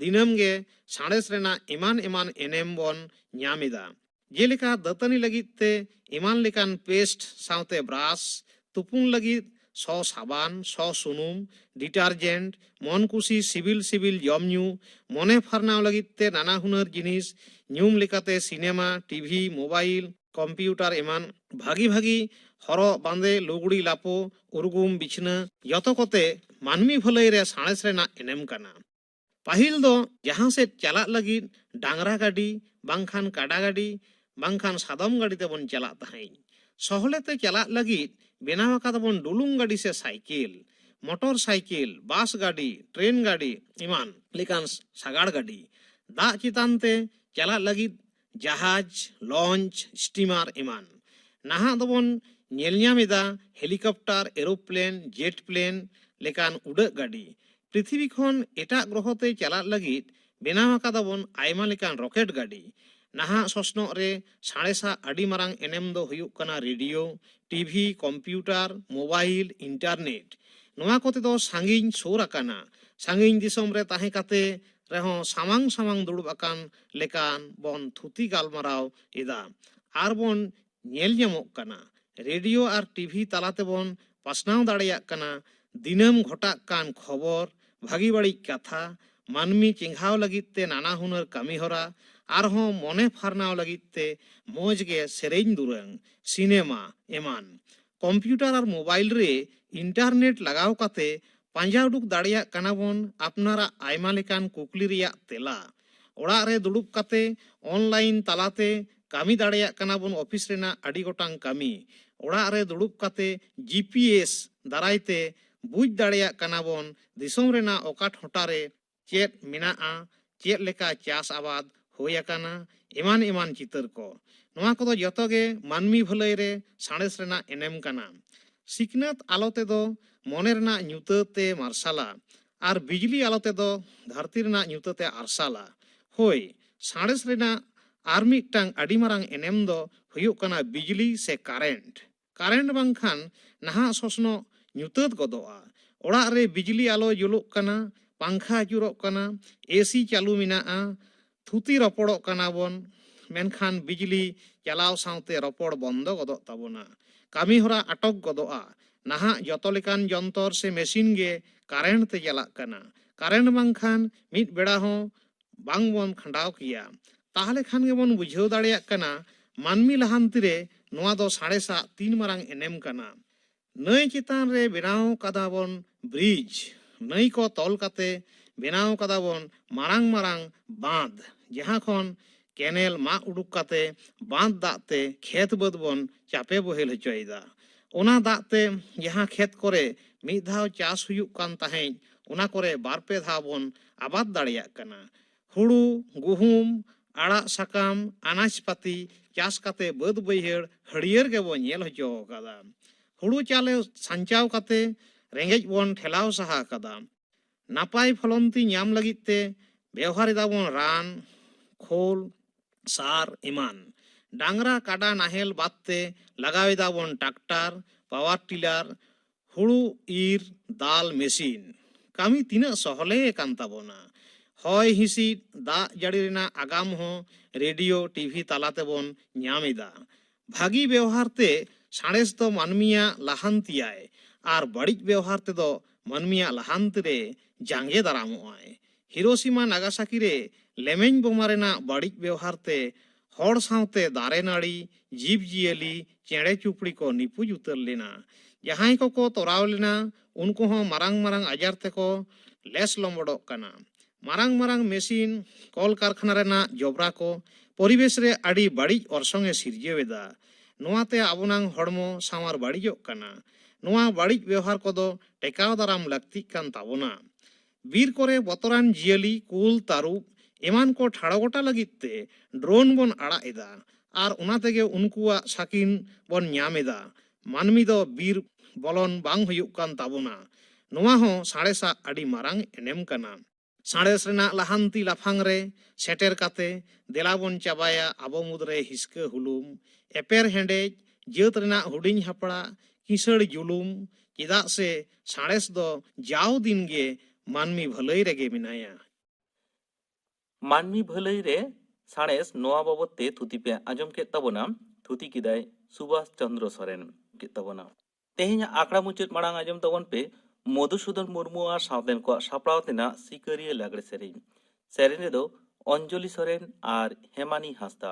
ᱫᱤᱱᱟᱹᱢ ᱜᱮ ᱥᱟᱬᱮᱥ ᱨᱮᱱᱟᱜ ᱮᱢᱟᱱ ᱮᱢᱟᱱ ᱮᱱᱮᱢ ᱵᱚᱱ ᱧᱟᱢ ᱮᱫᱟ ᱡᱮᱞᱮᱠᱟ ᱫᱟᱹᱛᱟᱹᱱᱤ ᱞᱟᱹᱜᱤᱫ ᱛᱮ ᱮᱢᱟᱱ ᱞᱮᱠᱟᱱ ᱯᱮᱥᱴ ᱥᱟᱶᱛᱮ ᱵᱨᱟᱥ ᱛᱩᱯᱩᱱ ᱞᱟᱹᱜᱤᱫ ᱥᱚ ᱥᱟᱵᱟᱱ ᱥᱚ ᱥᱩᱱᱩᱢ ᱰᱤᱴᱟᱨᱡᱮᱱᱴ ᱢᱚᱱ ᱠᱩᱥᱤ ᱥᱤᱵᱤᱞ ᱥᱤᱵᱤᱞ ᱡᱚᱢ ᱧᱩ ᱢᱚᱱᱮ ᱯᱷᱟᱨᱱᱟᱣ ᱞᱟᱹᱜᱤᱫ ᱛᱮ ᱱᱟᱱᱟ ᱦᱩᱱᱟᱹᱨ ᱡᱤᱱᱤᱥ ᱧᱩᱢ ᱞᱮᱠᱟᱛᱮ ᱥᱤᱱᱮᱢᱟ ᱴᱤᱵᱷᱤ ᱢᱳᱵᱟᱭᱤᱞ ᱠᱚᱢᱯᱤᱭᱩᱴᱟᱨ ᱮᱢᱟᱱ ᱵᱷᱟᱹᱜᱤ ᱵᱷᱟᱹᱜᱤ ᱦᱚᱨᱚᱜ ᱵᱟᱸᱫᱮ ᱞᱩᱜᱽᱲᱤ ᱞᱟᱯᱚ ᱩᱨᱜᱩᱢ ᱵᱤᱪᱷᱱᱟᱹ ᱡᱚᱛᱚ ᱠᱚᱛᱮ ᱢᱟᱹᱱᱢᱤ ᱵᱷᱟᱹᱞᱟᱹᱭ ᱨᱮ ᱥᱟᱬᱮᱥ ᱨᱮᱱᱟᱜ ᱮᱱᱮᱢ ᱠᱟᱱᱟ ᱯᱟᱹᱦᱤᱞ ᱫᱚ ᱡᱟᱦᱟᱸ ᱥᱮᱫ ᱪᱟᱞᱟᱜ ᱞᱟᱹᱜᱤᱫ ᱰᱟᱝᱨᱟ ᱜᱟᱹᱰᱤ ᱵᱟᱝᱠᱷᱟᱱ ᱠᱟᱰᱟ ᱜᱟᱹᱰᱤ ᱵᱟᱝᱠᱷᱟᱱ ᱥᱟᱫᱚᱢ ᱜᱟᱹᱰᱤ ᱛᱮᱵᱚᱱ ᱪᱟᱞᱟᱜ ᱛᱟᱦᱮᱸᱫ ᱥᱚᱦᱞᱮ ᱛᱮ ᱪᱟᱞᱟᱜ ᱞᱟᱹᱜᱤᱫ ᱵᱮᱱᱟᱣ ᱟᱠᱟᱫᱟᱵᱚᱱ ᱰᱩᱞᱩᱝ ᱜᱟᱹᱰᱤ ᱥᱮ ᱥᱟᱭᱠᱮᱞ ᱢᱚᱴᱚᱨ ᱥᱟᱭᱠᱮᱞ ᱵᱟᱥ ᱜᱟᱹᱰᱤ ᱴᱨᱮᱱ ᱜᱟᱹᱰᱤ ᱮᱢᱟᱱ ᱞᱮᱠᱟᱱ ᱥᱟᱜᱟᱲ ᱜᱟᱹᱰᱤ ᱫᱟᱜ ᱪᱮᱛᱟᱱ ᱛᱮ ᱪᱟᱞᱟᱜ ᱞᱟᱹᱜᱤᱫ ᱡᱟᱦᱟᱡᱽ ᱞᱚᱧᱪ ᱥᱴᱤᱢᱟᱨ ᱮᱢᱟᱱ ᱱᱟᱦᱟᱜ ᱫᱚᱵᱚᱱ ᱧᱮᱞ ᱧᱟᱢ ᱮᱫᱟ ᱦᱮᱞᱤᱠᱚᱯᱴᱟᱨ ᱮᱨᱳᱯᱞᱮᱱ ᱡᱮᱴ ᱯᱞᱮᱱ ᱞᱮᱠᱟᱱ ᱩᱰᱟᱹᱜ ᱜᱟᱹᱰᱤ ᱯᱨᱤᱛᱷᱤᱵᱤ ᱠᱷᱚᱱ ᱮᱴᱟᱜ ᱜᱨᱚᱦᱚ ᱛᱮ ᱪᱟᱞᱟᱜ ᱞᱟᱹᱜᱤᱫ ᱵᱮᱱᱟᱣ ᱟᱠᱟᱫᱟᱵᱚᱱ ᱟᱭᱢᱟ ᱞᱮᱠᱟᱱ ᱨᱚᱠᱮᱴ ᱜᱟᱹᱰᱤ ᱱᱟᱦᱟᱜ ᱥᱚᱥᱱᱚᱜ ᱨᱮ ᱥᱟᱬᱮᱥᱟᱜ ᱟᱹᱰᱤ ᱢᱟᱨᱟᱝ ᱮᱱᱮᱢ ᱫᱚ ᱦᱩᱭᱩᱜ ᱠᱟᱱᱟ radio TV computer mobile internet ᱱᱚᱣᱟ ᱠᱚᱛᱮ ᱫᱚ ᱥᱟᱺᱜᱤᱧ ᱥᱩᱨ ᱟᱠᱟᱱᱟ ᱥᱟᱺᱜᱤᱧ ᱫᱤᱥᱚᱢ ᱨᱮ ᱛᱟᱦᱮᱸ ᱠᱟᱛᱮ ᱨᱮᱦᱚᱸ ᱥᱟᱢᱟᱝ ᱥᱟᱢᱟᱝ ᱫᱩᱲᱩᱵ ᱟᱠᱟᱱ ᱞᱮᱠᱟᱱ ᱵᱚᱱ ᱛᱷᱩᱛᱤ ᱜᱟᱞᱢᱟᱨᱟᱣ ᱮᱫᱟ ᱟᱨ ᱵᱚᱱ ᱧᱮᱞ ᱧᱟᱢᱚᱜ ᱠᱟᱱᱟ᱾ ᱨᱮᱰᱤᱭᱳ ᱟᱨ ᱴᱤᱵᱷᱤ ᱛᱟᱞᱟ ᱛᱮᱵᱚᱱ ᱯᱟᱥᱱᱟᱣ ᱫᱟᱲᱮᱭᱟᱜ ᱠᱟᱱᱟ ᱫᱤᱱᱟᱹᱢ ᱜᱷᱚᱴᱟᱜ ᱠᱟᱱ ᱠᱷᱚᱵᱚᱨ, ᱵᱷᱟᱹᱜᱤ ᱵᱟᱹᱲᱤᱡ ᱠᱟᱛᱷᱟ, ᱢᱟᱹᱱᱢᱤ ᱪᱮᱸᱜᱷᱟᱣ ᱞᱟᱹᱜᱤᱫ ᱛᱮ ᱱᱟᱱᱟ ᱦᱩᱱᱟᱹᱨ ᱠᱟᱹᱢᱤᱦᱚᱨᱟ ᱟᱨᱦᱚᱸ ᱢᱚᱱᱮ ᱯᱷᱟᱨᱱᱟᱣ ᱞᱟᱹᱜᱤᱫ ᱛᱮ ᱢᱚᱡᱽ ᱜᱮ ᱥᱮᱨᱮᱧ ᱫᱩᱨᱟᱹᱝ, ᱥᱤᱱᱮᱢᱟ ᱮᱢᱟᱱ᱾ ᱠᱚᱢᱯᱭᱩᱴᱟᱨ ᱟᱨ ᱢᱳᱵᱟᱭᱤᱞ ᱨᱮ ᱤᱱᱴᱟᱨᱱᱮᱴ ᱞᱟᱜᱟᱣ ᱠᱟᱛᱮ ᱯᱟᱸᱡᱟ ᱩᱰᱩᱠ ᱫᱟᱲᱮᱭᱟᱜ ᱠᱟᱱᱟ ᱵᱚᱱ ᱟᱯᱱᱟᱨᱟᱜ ᱟᱭᱢᱟ ᱞᱮᱠᱟᱱ ᱠᱩᱠᱞᱤ ᱨᱮᱭᱟᱜ ᱛᱮᱞᱟ᱾ ᱚᱲᱟᱜ ᱨᱮ ᱫᱩᱲᱩᱵ ᱠᱟᱛᱮ ᱚᱱᱞᱟᱭᱤᱱ ᱛᱟᱞᱟ ᱛᱮ ᱠᱟᱹᱢᱤ ᱫᱟᱲᱮᱭᱟᱜ ᱠᱟᱱᱟ ᱵᱚᱱ ᱚᱯᱷᱤᱥ ᱨᱮᱱᱟᱜ ᱟᱹᱰᱤ ᱜᱚᱴᱟᱝ ᱠᱟᱹᱢᱤ᱾ ᱚᱲᱟᱜ ᱨᱮ ᱫᱩᱲᱩᱵ ᱠᱟᱛᱮ ᱡᱤ ᱯᱤ ᱮᱥ ᱫᱟᱨᱟᱭ ᱛᱮ ᱵᱩᱡᱽ ᱫᱟᱲᱮᱭᱟᱜ ᱠᱟᱱᱟ ᱵᱚᱱ ᱫᱤᱥᱚᱢ ᱨᱮᱱᱟᱜ ᱚᱠᱟ ᱴᱷᱚᱴᱟ ᱨᱮ ᱪᱮᱫ ᱢᱮᱱᱟᱜᱼᱟ ᱪᱮᱫ ᱞᱮᱠᱟ ᱪᱟᱥ ᱟᱵᱟᱫᱽ ᱦᱩᱭ ᱟᱠᱟᱱᱟ ᱮᱢᱟᱱ ᱮᱢᱟᱱ ᱪᱤᱛᱟᱹᱨ ᱠᱚ ᱱᱚᱣᱟ ᱠᱚᱫᱚ ᱡᱚᱛᱚ ᱜᱮ ᱢᱟᱹᱱᱢᱤ ᱵᱷᱟᱹᱞᱟᱹᱭ ᱨᱮ ᱥᱟᱬᱮᱥ ᱨᱮᱱᱟᱜ ᱮᱱᱮᱢ ᱠᱟᱱᱟ ᱥᱤᱠᱷᱱᱟᱹᱛ ᱟᱞᱚ ᱛᱮᱫᱚ ᱢᱚᱱᱮ ᱨᱮᱱᱟᱜ ᱧᱩᱛᱟᱹᱛᱮ ᱢᱟᱨᱥᱟᱞᱟ ᱟᱨ ᱵᱤᱡᱽᱞᱤ ᱟᱞᱚ ᱛᱮᱫᱚ ᱫᱷᱟᱹᱨᱛᱤ ᱨᱮᱱᱟᱜ ᱧᱩᱛᱟᱹᱛᱮ ᱟᱨᱥᱟᱞᱟ ᱦᱳᱭ ᱥᱟᱬᱮᱥ ᱨᱮᱱᱟᱜ ᱟᱨ ᱢᱤᱫᱴᱟᱝ ᱟᱹᱰᱤ ᱢᱟᱨᱟᱝ ᱮᱱᱮᱢ ᱫᱚ ᱦᱩᱭᱩᱜ ᱠᱟᱱᱟ ᱵᱤᱡᱽᱞᱤ ᱥᱮ ᱠᱟᱨᱮᱱᱴ ᱠᱟᱨᱮᱱᱴ ᱵᱟᱝᱠᱷᱟᱱ ᱱᱟᱦᱟᱜ ᱥᱚᱥᱱᱚᱜ ᱧᱩᱛᱟᱹᱛ ᱜᱚᱫᱚᱜᱼᱟ᱾ ᱚᱲᱟᱜ ᱨᱮ ᱵᱤᱡᱽᱞᱤ ᱟᱞᱚ ᱡᱩᱞᱩᱜ ᱠᱟᱱᱟ, ᱯᱟᱝᱠᱷᱟ ᱟᱹᱪᱩᱨᱚᱜ ᱠᱟᱱᱟ, ᱮᱥᱤ ᱪᱟᱹᱞᱩ ᱢᱮᱱᱟᱜᱼᱟ, ᱛᱷᱩᱛᱤ ᱨᱚᱯᱚᱲᱚᱜ ᱠᱟᱱᱟ ᱵᱚᱱ, ᱢᱮᱱᱠᱷᱟᱱ ᱵᱤᱡᱽᱞᱤ ᱪᱟᱞᱟᱣ ᱥᱟᱶᱛᱮ ᱨᱚᱯᱚᱲ ᱵᱚᱱᱫᱚ ᱜᱚᱫᱚᱜ ᱛᱟᱵᱚᱱᱟ᱾ ᱠᱟᱹᱢᱤ ᱦᱚᱨᱟ ᱟᱴᱚᱠ ᱜᱚᱫᱚᱜᱼᱟ᱾ ᱱᱟᱦᱟᱜ ᱡᱚᱛᱚ ᱞᱮᱠᱟᱱ ᱡᱚᱱᱛᱚᱨ ᱥᱮ ᱢᱮᱥᱤᱱ ᱜᱮ ᱠᱟᱨᱮᱱᱴ ᱛᱮ ᱪᱟᱞᱟᱜ ᱠᱟᱱᱟ᱾ ᱠᱟᱨᱮᱱᱴ ᱵᱟᱝᱠᱷᱟᱱ ᱢᱤᱫ ᱵᱮᱲᱟ ᱦᱚᱸ ᱵᱟᱝ ᱵᱚᱱ ᱠᱷᱟᱸᱰᱟᱣ ᱠᱮᱭᱟ ᱛᱟᱦᱚᱞᱮ ᱠᱷᱟᱱ ᱜᱮᱵᱚᱱ ᱵᱩᱡᱷᱟᱹᱣ ᱫᱟᱲᱮᱭᱟᱜ ᱠᱟᱱᱟ ᱢᱟᱹᱱᱢᱤ ᱞᱟᱦᱟᱱᱛᱤ ᱨᱮ ᱱᱚᱣᱟ ᱫᱚ ᱥᱟᱬᱮᱥ ᱟᱜ ᱛᱤᱱ ᱢᱟᱨᱟᱝ ᱮᱱᱮᱢ ᱠᱟᱱᱟ᱾ ᱱᱟᱹᱭ ᱪᱮᱛᱟᱱ ᱨᱮ ᱵᱮᱱᱟᱣ ᱠᱟᱫᱟ ᱵᱚᱱ ᱵᱨᱤᱡᱽ, ᱱᱟᱹᱭ ᱠᱚ ᱛᱚᱞ ᱠᱟᱛᱮ ᱵᱮᱱᱟᱣ ᱠᱟᱫᱟ ᱵᱚᱱ ᱢᱟᱨᱟᱝ ᱢᱟᱨᱟᱝ ᱵᱟᱸᱫᱽ ᱡᱟᱦᱟᱸ ᱠᱷᱚᱱ ᱠᱮᱱᱮᱞ ᱢᱟᱜ ᱩᱰᱩᱠ ᱠᱟᱛᱮ ᱵᱟᱸᱫᱽ ᱫᱟᱜ ᱛᱮ ᱠᱷᱮᱛ ᱵᱟᱹᱫᱽ ᱵᱚᱱ ᱪᱟᱯᱮ ᱵᱚᱦᱮᱞ ᱦᱚᱪᱚᱭᱮᱫᱟ᱾ ᱚᱱᱟ ᱫᱟᱜ ᱛᱮ ᱡᱟᱦᱟᱸ ᱠᱷᱮᱛ ᱠᱚᱨᱮ ᱢᱤᱫ ᱫᱷᱟᱣ ᱪᱟᱥ ᱦᱩᱭᱩᱜ ᱠᱟᱱ ᱛᱟᱦᱮᱸᱡ ᱚᱱᱟ ᱠᱚᱨᱮ ᱵᱟᱨ ᱯᱮ ᱫᱷᱟᱣ ᱵᱚᱱ ᱟᱵᱟᱫᱽ ᱫᱟᱲᱮᱭᱟᱜ ᱠᱟᱱᱟ ᱦᱩᱲᱩ ᱜᱩᱦᱩᱢ ᱟᱲᱟᱜ ᱥᱟᱠᱟᱢ ᱟᱱᱟᱡᱽ ᱯᱟᱹᱛᱤ ᱪᱟᱥ ᱠᱟᱛᱮ ᱵᱟᱹᱫᱽ ᱵᱟᱹᱭᱦᱟᱹᱲ ᱦᱟᱹᱨᱭᱟᱹᱲ ᱜᱮᱵᱚ ᱧᱮᱞ ᱦᱚᱪᱚ ᱟᱠᱟᱫᱟ ᱦᱩᱲᱩ ᱪᱟᱣᱞᱮ ᱥᱟᱧᱪᱟᱣ ᱠᱟᱛᱮ ᱨᱮᱸᱜᱮᱡ ᱵᱚᱱ ᱴᱷᱮᱞᱟᱣ ᱥᱟᱦᱟ ᱟᱠᱟᱫᱟ ᱱᱟᱯᱟᱭ ᱯᱷᱚᱞᱚᱱᱛᱤ ᱧᱟᱢ ᱞᱟᱹᱜᱤᱫ ᱛᱮ ᱵᱮᱣᱦᱟᱨ ᱮᱫᱟᱵᱚᱱ ᱨᱟᱱ ᱠᱷᱳᱞ ᱥᱟᱨ ᱮᱢᱟᱱ ᱰᱟᱝᱨᱟ ᱠᱟᱰᱟ ᱱᱟᱦᱮᱞ ᱵᱟᱫᱽ ᱛᱮ ᱞᱟᱜᱟᱣ ᱮᱫᱟᱵᱚᱱ ᱴᱟᱠᱴᱟᱨ ᱯᱟᱣᱟᱨ ᱴᱤᱞᱟᱨ ᱦᱩᱲᱩ ᱤᱨ ᱫᱟᱞ ᱢᱮᱥᱤᱱ ᱠᱟᱹᱢᱤ ᱛᱤᱱᱟᱹᱜ ᱥᱚᱦᱞᱮ ᱟᱠᱟᱱ ᱛᱟᱵᱚᱱᱟ᱾ ᱦᱚᱭ ᱦᱤᱥᱤᱫ, ᱫᱟᱜ ᱡᱟᱹᱲᱤ ᱨᱮᱱᱟᱜ ᱟᱜᱟᱢ ᱦᱚᱸ ᱨᱮᱰᱤᱭᱳ, ᱴᱤᱵᱷᱤ ᱛᱟᱞᱟ ᱛᱮᱵᱚᱱ ᱧᱟᱢ ᱮᱫᱟ᱾ ᱵᱷᱟᱹᱜᱤ ᱵᱮᱣᱦᱟᱨ ᱛᱮ ᱥᱟᱬᱮᱥ ᱫᱚ ᱢᱟᱹᱱᱢᱤᱭᱟᱜ ᱞᱟᱦᱟᱱᱛᱤᱭᱟᱭ ᱟᱨ ᱵᱟᱹᱲᱤᱡ ᱵᱮᱣᱦᱟᱨ ᱛᱮᱫᱚ ᱢᱟᱹᱱᱢᱤᱭᱟᱜ ᱞᱟᱦᱟᱱᱛᱤ ᱨᱮ ᱡᱟᱸᱜᱮ ᱫᱟᱨᱟᱢᱚᱜᱼᱟᱭ᱾ ᱦᱤᱨᱳᱥᱤᱢᱟ ᱱᱟᱜᱟᱥᱟᱠᱤ ᱨᱮ ᱞᱮᱢᱮᱧ ᱵᱳᱢᱟ ᱨᱮᱱᱟᱜ ᱵᱟᱹᱲᱤᱡ ᱵᱮᱣᱦᱟᱨ ᱛᱮ ᱦᱚᱲ ᱥᱟᱶᱛᱮ ᱫᱟᱨᱮ ᱱᱟᱹᱲᱤ, ᱡᱤᱵᱽ ᱡᱤᱭᱟᱹᱞᱤ, ᱪᱮᱬᱮ ᱪᱩᱯᱲᱤ ᱠᱚ ᱱᱤᱯᱩᱡᱽ ᱩᱛᱟᱹᱨ ᱞᱮᱱᱟ᱾ ᱡᱟᱦᱟᱸᱭ ᱠᱚ ᱠᱚ ᱛᱚᱨᱟᱣ ᱞᱮᱱᱟ ᱩᱱᱠᱩ ᱦᱚᱸ ᱢᱟᱨᱟᱝ ᱢᱟᱨᱟᱝ ᱟᱡᱟᱨ ᱛᱮ ᱠᱚ ᱞᱮᱥ ᱞᱚᱢᱵᱚᱰᱚᱜ ᱠᱟᱱᱟ᱾ ᱢᱟᱨᱟᱝ ᱢᱟᱨᱟᱝ ᱢᱮᱥᱤᱱ, ᱠᱚᱞ ᱠᱟᱨᱠᱷᱟᱱᱟ ᱨᱮᱱᱟᱜ ᱡᱚᱵᱽᱨᱟ ᱠᱚ ᱯᱚᱨᱤᱵᱮᱥ ᱨᱮ ᱟᱹᱰᱤ ᱵᱟᱹᱲᱤᱡ ᱚᱨᱥᱚᱝ ᱮ ᱥᱤᱨᱡᱟᱹᱣ ᱮᱫᱟ᱾ ᱱᱚᱶᱟ ᱛᱮ ᱟᱵᱚᱱᱟᱝ ᱦᱚᱲᱢᱚ ᱥᱟᱶᱟᱨ ᱵᱟᱹᱲᱤᱡᱚᱜ ᱠᱟᱱᱟ᱾ ᱱᱚᱶᱟ ᱵᱟᱹᱲᱤᱡ ᱵᱮᱣᱦᱟᱨ ᱠᱚ ᱫᱚ ᱴᱮᱠᱟᱣ ᱫᱟᱨᱟᱢ ᱞᱟᱹᱠᱛᱤᱜ ᱠᱟᱱ ᱛᱟᱵᱚᱱᱟ᱾ ᱵᱤᱨ ᱠᱚᱨᱮ ᱵᱚᱛᱚᱨᱟᱱ ᱡᱤᱭᱟᱹᱞᱤ ᱠᱩᱞ ᱛᱟᱹᱨᱩᱵ ᱮᱢᱟᱱ ᱠᱚ ᱴᱷᱟᱲᱚ ᱜᱚᱴᱟ ᱞᱟᱹᱜᱤᱫ ᱛᱮ ᱰᱨᱳᱱ ᱵᱚᱱ ᱟᱲᱟᱜ ᱮᱫᱟ ᱟᱨ ᱚᱱᱟ ᱛᱮᱜᱮ ᱩᱱᱠᱩᱣᱟᱜ ᱥᱟᱹᱠᱤᱱ ᱵᱚᱱ ᱧᱟᱢ ᱮᱫᱟ ᱢᱟᱹᱱᱢᱤ ᱫᱚ ᱵᱤᱨ ᱵᱚᱞᱚᱱ ᱵᱟᱝ ᱦᱩᱭᱩᱜ ᱠᱟᱱ ᱛᱟᱵᱚᱱᱟ ᱱᱚᱣᱟ ᱦᱚᱸ ᱥᱟᱬᱮᱥᱟᱜ ᱟᱹᱰᱤ ᱢᱟᱨᱟᱝ ᱮᱱᱮᱢ ᱠᱟᱱᱟ ᱥᱟᱬᱮᱥ ᱨᱮᱱᱟᱜ ᱞᱟᱦᱟᱱᱛᱤ ᱞᱟᱯᱷᱟᱝ ᱨᱮ ᱥᱮᱴᱮᱨ ᱠᱟᱛᱮ ᱫᱮᱞᱟ ᱵᱚᱱ ᱪᱟᱵᱟᱭᱟ ᱟᱵᱚ ᱢᱩᱫᱽ ᱨᱮ ᱦᱤᱥᱠᱟᱹ ᱦᱩᱞᱩᱢ ᱮᱯᱮᱨ ᱦᱮᱸᱰᱮᱡ ᱡᱟᱹᱛ ᱨᱮᱱᱟᱜ ᱦᱩᱰᱤᱧ ᱦᱟᱯᱲᱟᱜ ᱠᱤᱥᱟᱹᱬ ᱡᱩᱞᱩᱢ ᱪᱮᱫᱟᱜ ᱥᱮ ᱥᱟᱬᱮᱥ ᱫᱚ ᱡᱟᱣ ᱫᱤᱱ ᱜᱮ ᱢᱟᱹᱱᱢᱤ ᱵᱷᱟᱹᱞᱟᱹᱭ ᱨᱮᱜᱮ ᱢᱮᱱᱟᱭᱟ᱾ ᱢᱟᱹᱱᱢᱤ ᱵᱷᱟᱹᱞᱟᱹᱭ ᱨᱮ ᱥᱟᱬᱮᱥ ᱱᱚᱣᱟ ᱵᱟᱵᱚᱛ ᱛᱮ ᱛᱷᱩᱛᱤ ᱯᱮ ᱟᱸᱡᱚᱢ ᱠᱮᱫ ᱛᱟᱵᱚᱱᱟ, ᱛᱷᱩᱛᱤ ᱠᱮᱫᱟᱭ ᱥᱩᱵᱷᱟᱥ ᱪᱚᱱᱫᱽᱨᱚ ᱥᱚᱨᱮᱱ᱾ ᱠᱮᱫ ᱛᱟᱵᱚᱱᱟ᱾ ᱛᱮᱦᱮᱧᱟᱜ ᱟᱠᱷᱲᱟ ᱢᱩᱪᱟᱹᱫ ᱢᱟᱲᱟᱝ ᱟᱸᱡᱚᱢ ᱛᱟᱵᱚᱱ ᱯᱮ ᱢᱚᱫᱷᱩᱥᱩᱫᱚᱱ ᱢᱩᱨᱢᱩ ᱟᱨ ᱥᱟᱶᱛᱮᱱ ᱠᱚᱣᱟᱜ ᱥᱟᱯᱲᱟᱣ ᱛᱮᱱᱟᱜ ᱥᱤᱠᱟᱹᱨᱤᱭᱟᱹ ᱞᱟᱜᱽᱲᱮ ᱥᱮᱨᱮᱧ᱾ ᱥᱮᱨᱮᱧ ᱨᱮᱫᱚ ᱚᱧᱡᱚᱞᱤ ᱥᱚᱨᱮᱱ ᱟᱨ ᱦᱮᱢᱟᱱᱤ ᱦᱟᱸᱥᱫᱟ᱾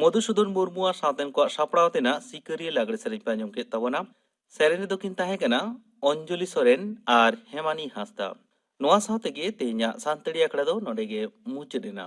ᱢᱚᱫᱷᱩᱥᱩᱫᱚᱱ ᱢᱩᱨᱢᱩ ᱟᱨ ᱥᱟᱶᱛᱮᱱ ᱠᱚᱣᱟᱜ ᱥᱟᱯᱲᱟᱣ ᱛᱮᱱᱟᱜ ᱥᱤᱠᱟᱹᱨᱤᱭᱟᱹ ᱞᱟᱜᱽᱲᱮ ᱥᱮᱨᱮᱧ ᱯᱮ ᱟᱸᱡᱚᱢ ᱠᱮᱫ ᱛᱟᱵᱚᱱᱟ ᱥᱮᱨᱮᱧ ᱨᱮᱫᱚ ᱠᱤᱱ ᱛᱟᱦᱮᱸ ᱠᱟᱱᱟ ᱚᱧᱡᱚᱞᱤ ᱥᱚᱨᱮᱱ ᱟᱨ ᱦᱮᱢᱟᱱᱤ ᱦᱟᱸᱥᱫᱟ ᱱᱚᱣᱟ ᱥᱟᱶ ᱛᱮᱜᱮ ᱛᱮᱦᱮᱧᱟᱜ ᱥᱟᱱᱛᱟᱲᱤ ᱟᱠᱷᱲᱟ ᱫᱚ ᱱᱚᱰᱮ ᱜᱮ ᱢᱩᱪᱟᱹᱫ ᱮᱱᱟ